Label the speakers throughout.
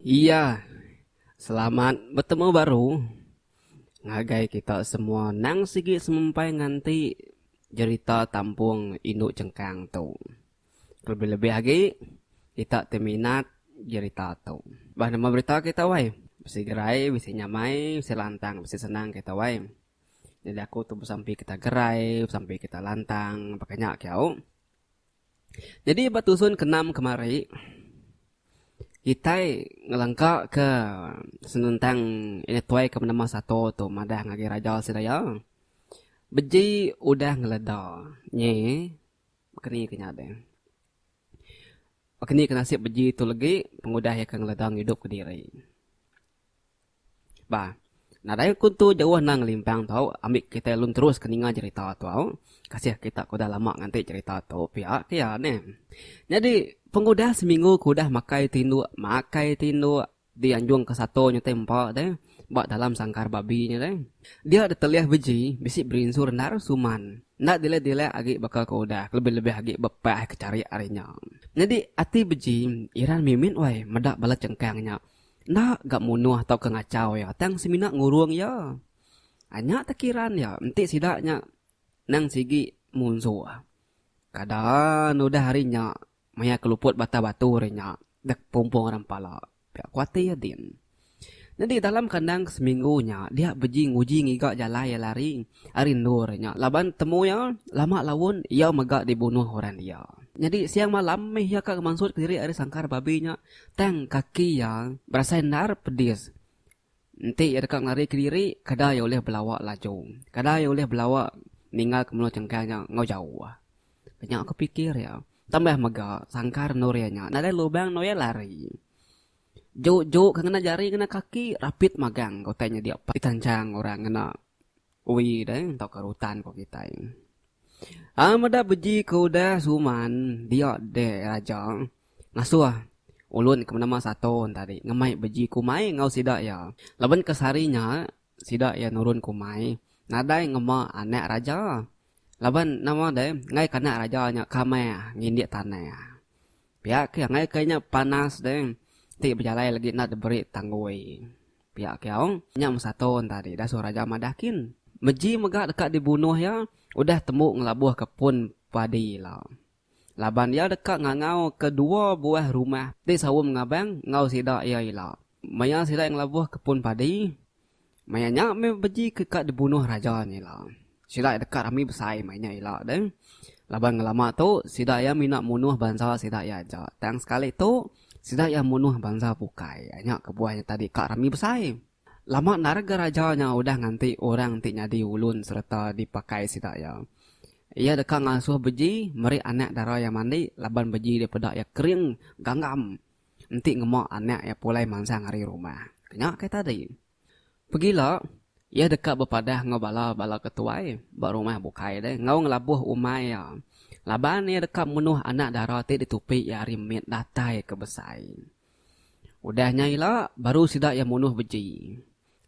Speaker 1: Iya. Selamat betemu baru ngagai kita semua nang sigi semempai nganti jerita Tampung Indu Chengkang tu. Kelebih-lebih agi kita ti minat jerita tu. Bah nama berita kita wai. Bisi gerai, bisi nyamai, bisi lantang, bisi senang kita wai. Nyadi aku tu besampi kita gerai, besampi kita lantang baka nya ke au. Nyadi ba tusun ke enam kemari kitai ngelengka ke senentang nya tuai ke benama Sato tu madah ngagai raja sida iya. Beji udah ngeleda nyi Keni ke nya deh. Keni ke nasib beji tu legi pengudah iya ke ngeledong idup kediri. Bah, nadai ku tu jauh endang ngelimpang tau ambi kitai alun terus ke ninga jerita tu au. Kasih kita ke udah lama nganti jerita tu pia ke iya neh. Nyadi pengudah seminggu ke udah makai tinduk, makai tinduk, Di anjung ke satu nya te empa te ba dalam sangkar babi nya te. Dia ditelih beji bisi berinsu rendar suman. Enda dilek-dilek agi baka ke udah kelebih-lebih agi ba pah ke charik ari nya. Nyadi ati beji Iran mimit wai meda bala chengkang nya enda ga munuh tauka ngachau iya tang semina ngurung iya. Anya tekiran iya enti sida nya nang sigi munsuh. Kada nudah ari nya Maya ke luput batah batu ari nya dek pumpung orang pala pia ku ati iya din. Nyadi dalam kandang ke seminggu nya dia beji nguji ngiga jalai iya lari ari endur ari nya laban temu iya lama laun iya mega dibunuh orang dia. Nyadi siang malam mih iya ka ngemansut ke diri ari sangkar babi nya tang kaki iya berasai endar pedis Enti iya deka ngarika diri, kadaa iya ulih belawa laju. Kadaa iya ulih belawa ninggalka menua chengkang nya enggau jauh. Ke nya aku pikir iya. Tambah mega, sangkar endur iya nya nadai lubang endur iya lari. Juu-juu ke ngena jari ngena kaki, rapit magang ke utai nyedia pan ditanchang orang ngena. Ui deh entok ke rutan ko kitai. Ai meda beji ke udah suman dia deh raja ngasuh ulun ke menama sato tadi ngemai beji kumai enggau sida iya. Laban ke sehari nya sida iya nurun kumai nadai ngema anak raja laban nama deh enggai ke anak raja nya ke meh ngindik tanah. Pia ke enggai ke nya panas deh ti bejalai lagi enda diberi tanggui. Pia Keong, nya mesatun tadi dah suruh raja madah kin. Meji mega deka dibunuh iya udah tembu ngelabuhka pun padi ila. Laban iya deka ngangauka dua buah rumah ti saum ngabang enggau sida iya ila. Maya sida iya ngelabuhka pun padi, maya nya meh beji ke ka dibunuh raja nya ila. Sida iya deka rami besai mai nya ila deh. Laban ngelama tu, sida iya mina munuh bansa sida iya aja. Tang sekali tu, sida iya munuh bansa bukai. Nya kebuah iya tadi ka rami besai. Lama enda rega raja nya udah nganti orang ti nyadi ulun sereta dipakai sida iya. Iya deka ngasuh beji meri anak dara iya mandi laban beji dia peda iya kering ganggam enti ngema anak iya pulai mansang ari rumah. Nya kai tadi. Pegila, iya deka bepadah enggau bala-bala ke tuai ba rumah bukai deh enggau ngelabuh umai iya laban iya deka menuh anak dara ti ditupi iya ari mit datai ke besai. Udah nya ila, baru sida iya munuh beji.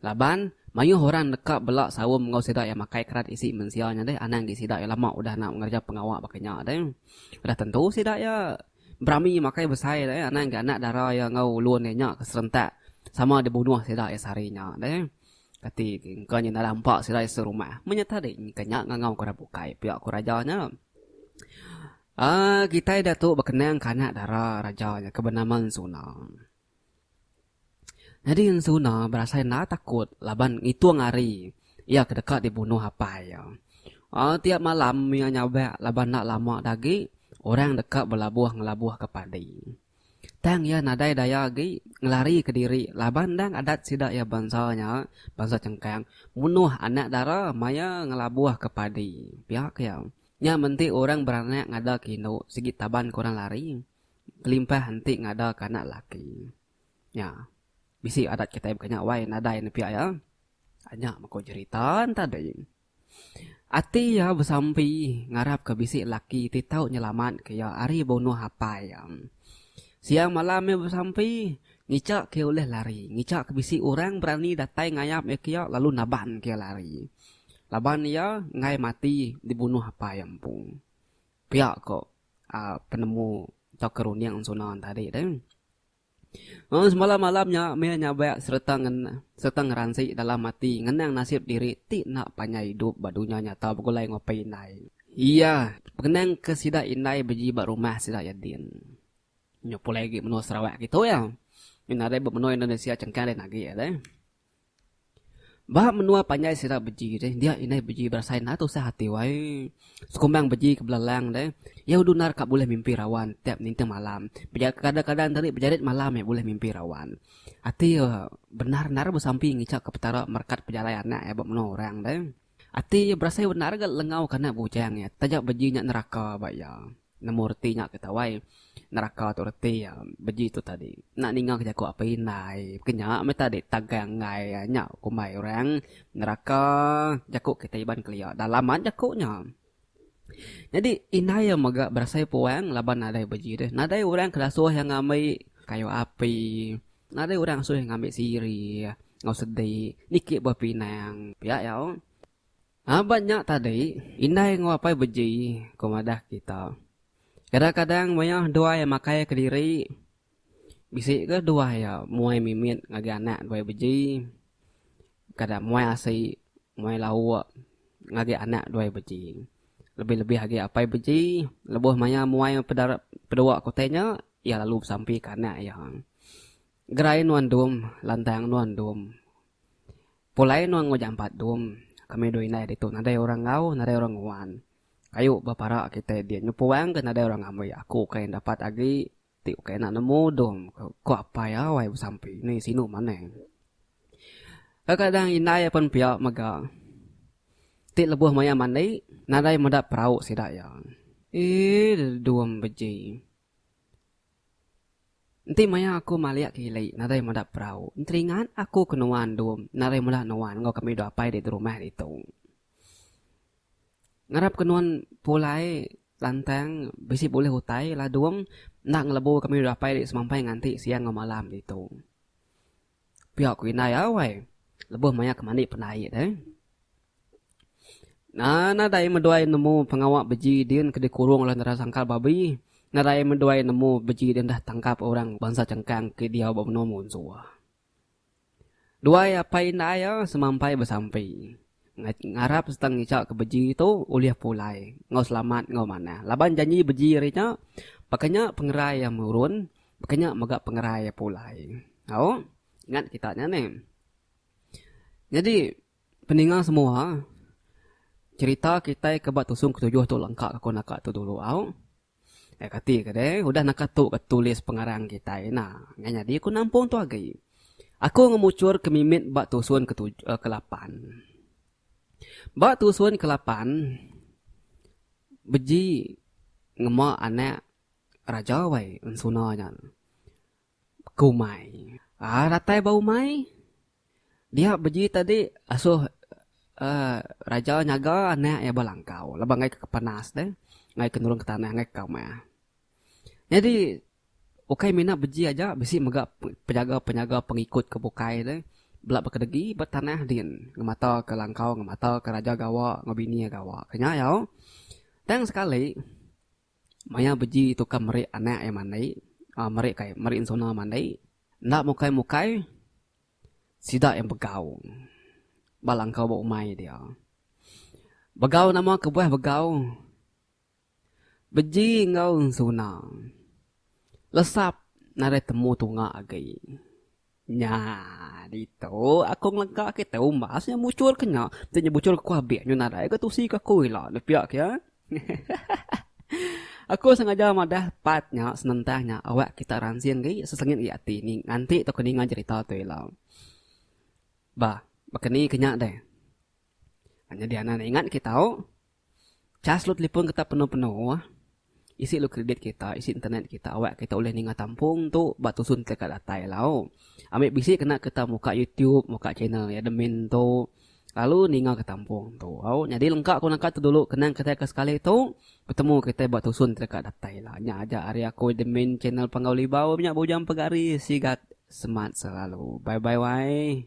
Speaker 1: Laban, mayuh orang deka bela saum enggau sida iya makai kerat isi mensia nya deh anang agi sida iya lama udah enggau ngereja pengawa baka nya deh. Udah tentu sida iya Berami makai besai deh anang ga anak dara iya enggau ulun iya nya ke serentak sama dibunuh sida iya sehari nya deh. Kati engka nyau nadah empa sida iya serumah. Menyata deh engka nya ngangau ku orang bukai pia ku raja nya. Aaa kitai datu bekenang ke anak dara raja nya ke benama Ensuna. Nyadi ensuna berasai enda takut laban ngitung hari iya ke deka dibunuh apai iya. Tiap malam iya nyabak laban enda lama nya agi orang deka belabuh ngelabuhka padi. Tang iya nadai daya agi ngelarika diri laban endang adat sida iya bansa nya, bansa Chengkang munuh anak dara maya ngelabuhka padi. Pia ke iya. Nya menti orang beranak ngadarka indu sigi taban ke orang lari. Kelimpah henti ngadaka anak laki. Nya. Bisi adat kitai baka nya wai nadai ne pia iya. Anya meko jerita ne tadi. Ati iya besampi ngarapka bisi laki ti tau nyelamatka iya ari bunuh apai iya. Siang malam iya besampi ngichaka iya ulih lari, ngichaka bisi orang berani datai ngayap iya ke iya lalu nabanka iya lari. Laban iya enggai mati dibunuh apai iya empu. Pia ko. penemu tauka runding suna tadi tu. Lalu semalam malam nya mih nya ba sereta sereta ngeransi dalam ati ngenang nasib diri ti enda panjai idup ba dunya nyata begulai enggau pai indai iya pengenang ke sida indai beji ba rumah sida iya din. Nya pulai agi menua Sarawak kitu iya. Nadai ba menua Indonesia chengkang deh agi iya deh. Ba menua panjai sida beji deh dia indai beji berasai enda tusah ati wai. Sekumbang beji ke belalang deh iya udah endar ka bulih mimpi rawan tiap ninting malam. Kadang kadang tadi bejerit malam meh bulih mimpi rawan. Ati iya bendar endar besampi ngicha ke petara merekat pejalai anak iya ba menua orang deh. Ati iya berasai bendar ga lengau ke anak bujang iya taja beji nya neraka ba iya. Nemu reti nya ke tawai. Neraka tu reti iya. Beji tu tadi. Enda ninga ke jaku apai indai. Ke nya meh tadi tagang enggai nya kumbai orang. Neraka jaku kitai iban kelia. Dalam mat jaku nya. Nyadi indai iya mega berasai puang laban nadai beji deh. Nadai orang ke dasuh iya ngambi kayu api. Nadai orang dasuh iya ngambi sirih enggau sedi. Niki buah pinang. Pia iya. Aban nya tadi, indai enggau apai beji, ku madah kita. Kadang-kadang maya duai makai kediri, bisi ke duai iya muai mimit ngagai anak duai beji, kada muai asi, muai lauk ngagai anak duai beji. Lebih-lebih agi apai beji lebuh maya muai pedara pedua kutih nya, iya lalu besampi ke anak iya. Gerai nuan dum, lantang nuan dum. Pulai nuan enggau jampat dum. Kami dua indai ditu nadai orang enggau, nadai orang nguan. Kayu ba parak kitai dia nyupuang ke nadai orang ngambi aku ukai dapat agi ti ukai enda nemu dum, ku apai awai besampi ni sinu manang. Kadang-kadang indai iya pen pia mega ti lebuh maya mandi nadai meda perau sida iya. Ii dum beji. Enti maya aku malik ke ili nadai meda perau, enteringat aku ke nuan endum nadai mula nuan enggau kami dua apai di rumah ditu. Ngarap ke nuan pulai lantang bisi bulih utai ladung enda ngelebu kami dua apai di semampai nganti siang enggau malam ditu. Pia ku indai awai lebuh maya ke mandi pendai deh. Nadai meduai nemu pengawa beji din ke dikurung oleh Nera Sangkal Babi. Nadai meduai nemu beji din deh tangkap orang bansa Chengkang ke diau ba menua Munsuh. Duai apai indai semapai besampi. Ngarap sereta ngicha ke beji tu ulih pulai enggau selamat enggau manah laban janji beji ari nya baka nya pengerai iya murun baka nya mega pengerai iya pulai. Au ingat kita nya neh. Nyadi peninga semua cherita kitai ke ba tusung ketujuh tu lengka ku naka tu dulu au. Ai kati ke deh udah naka tu ke tulis pengarang kitai ina. Ngai nyadi aku nampung tu agi. Aku ngemuchur ke mimit ba tusun ke tuj eh ke lapan. Ba tusun ke lapan beji ngema anak raja wai ensuna nya. Ku umai. Aa ratai ba umai. Dia beji tadi asoh aaa raja nyaga anak iya ba langkau laban ngaika ke panas deh. Ngaika nurun ke tanah ngaika ka meh. Nyadi ukai mina beji aja bisi mega penyaga-penyaga pengikut ke bukai deh. Bela ba kedegi ba tanah din ngemata ka langkau ngemata ka raja gawa enggau bini iya gawa. Nya iya. Tang sekali. Maya beji tukar meri anak iya mandi, aaa meri kai, meri ensuna mandi, enda mukai-mukai sida iya begau ba langkau ba umai dia. Begau nama kebuah begau beji enggau ensuna lesap nadai temu tunga agi. Nya ditu aku ngelega kitai umbas nya muchur ke nya. Tu nya muchur ke ku abek nyu nadai ga tusi ke aku ila ne pia ke. Aku sengaja madah part nya senentang nya awak kita ransing agi sesengit agi ati nganti tau ke ninga cherita tu ila. Bah, baka ni ke nya deh. Ha, jadi anak nak ingat kita tahu cas lu telefon kita penuh-penuh ah. Isi lu kredit kita, isi internet kita awak kita boleh ninga tampung tu ba tusun teka datai lau. Ambil bisi kena kita muka YouTube, muka channel ya admin tu. Lalu ninga ke tampung tu. Au, jadi lengkap aku nangka tu dulu kenang kita ke sekali tu bertemu kita ba tusun teka datai lah. Nya aja hari aku admin channel Panggau Libau nya bujang pegari sigat semat selalu. Bye bye wai.